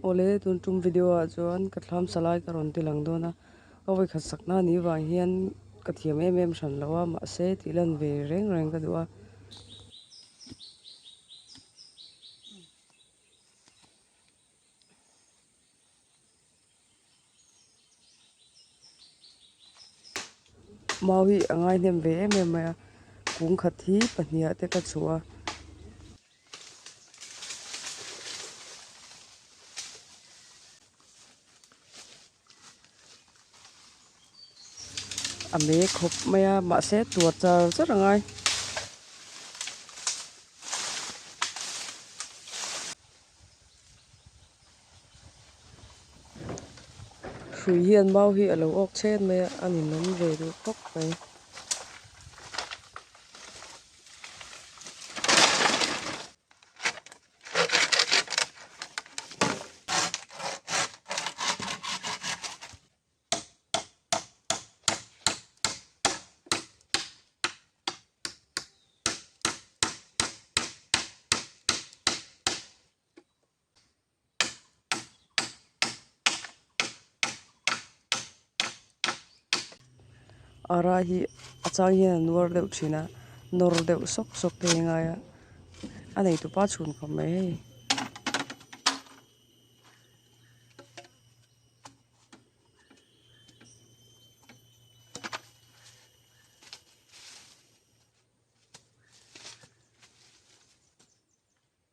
Awle, tun tum video ah chuan ka thlam sa lai ka rawn ti lang dawn a, ka vawi khat sak na ni vang hian ka thiam em em hran lo a, mahse tih lan ve reng reng ka duh a. Mau hi a ngaihnem ve em em mai a, kung khat hi pahnih ah te ka chhuh a. A me khawp mai a, mahse tua char char a ngai. Hrui hian mau hi a lo awk chhet mai a, a ni nawm ve duh khawp mai. Ara hi a chang hian a nuar deuh thin a nawr deuh sawk sawk te hi a ngai a a neitu pa chhun khawp mai hei.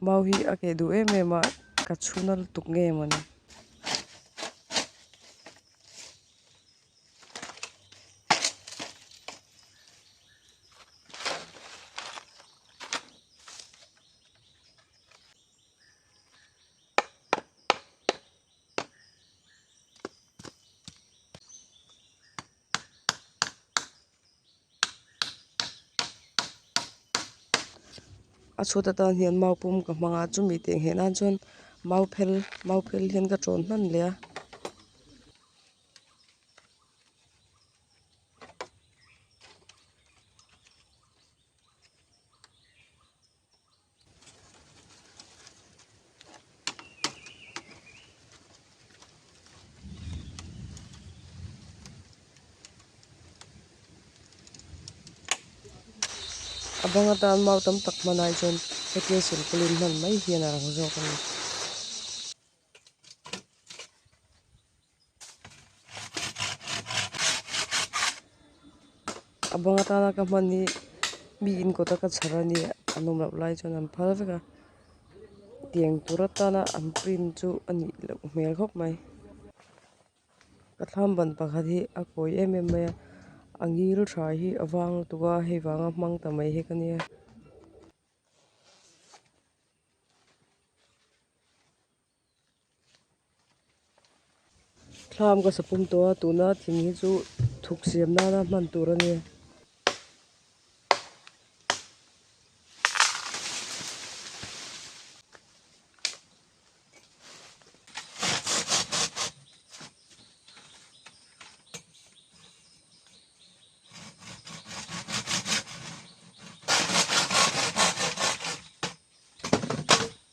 Mau hi a keh duh em em a, ka chhuna lutuk nge maw ni. A chhut atan hian mau pum ka hmang a chumi teh ngeh nan chuan mau phel mau phel hian ka ṭawn hman leh a. a bang atan mau tam tak hman ai chuan hetiang silpaulin hman mai hian a lang zawk a ni. a bang atana ka hman hi mi in kawta ka chhar a ni a nawm loh lai chuan an phal vek a tiang tur atana an print chu a nih loh hmel khawp mai ka thlam ban pakhat hi a kawi em em mai a a ngil tha hi a vang lutuk a hei vang a hmang ta mai hi ka nia Thlam ka sa pum tawh a, tuna thing hi chu thuk siam nana hman tur a ni.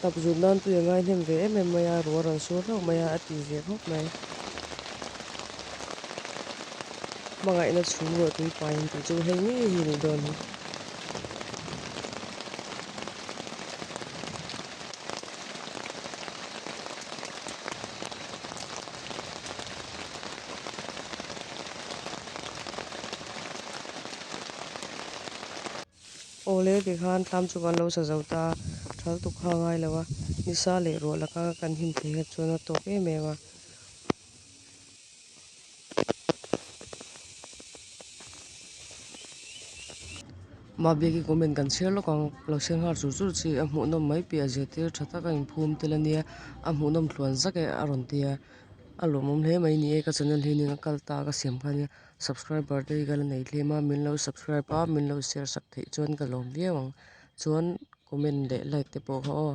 Hnap zut nan tu i ngaihnem ve em em mai a, rual rawn sur hlauh mai a, a ti zia hlawk mai. Hmangaihna chhum rual tui paiin tih chu hei ngei hi ni dawn hi. Awle, kei khan tlam chu kan lo sa zo ta a, thaltuk kha ngai lo a, ni sa leh ruah laka kan him thei kha chuan a tawk em em a. Mah biak i comment kan share lawk ang, lo share nghal chur chur chi, a hmuh nawm mai piahah zirtir tha tak a in phum tel a nia, a hmuh nawm thluan zak e a rawn ti a, a lawmawm hle mai ni e ka channel hi ning a kal ta ka siam kha nia, subscriber te hi ka la nei thlem a, min lo subscribe a min lo share sak theih chuan ka lawm viau ang, chuan comment leh like te pawh ka aw.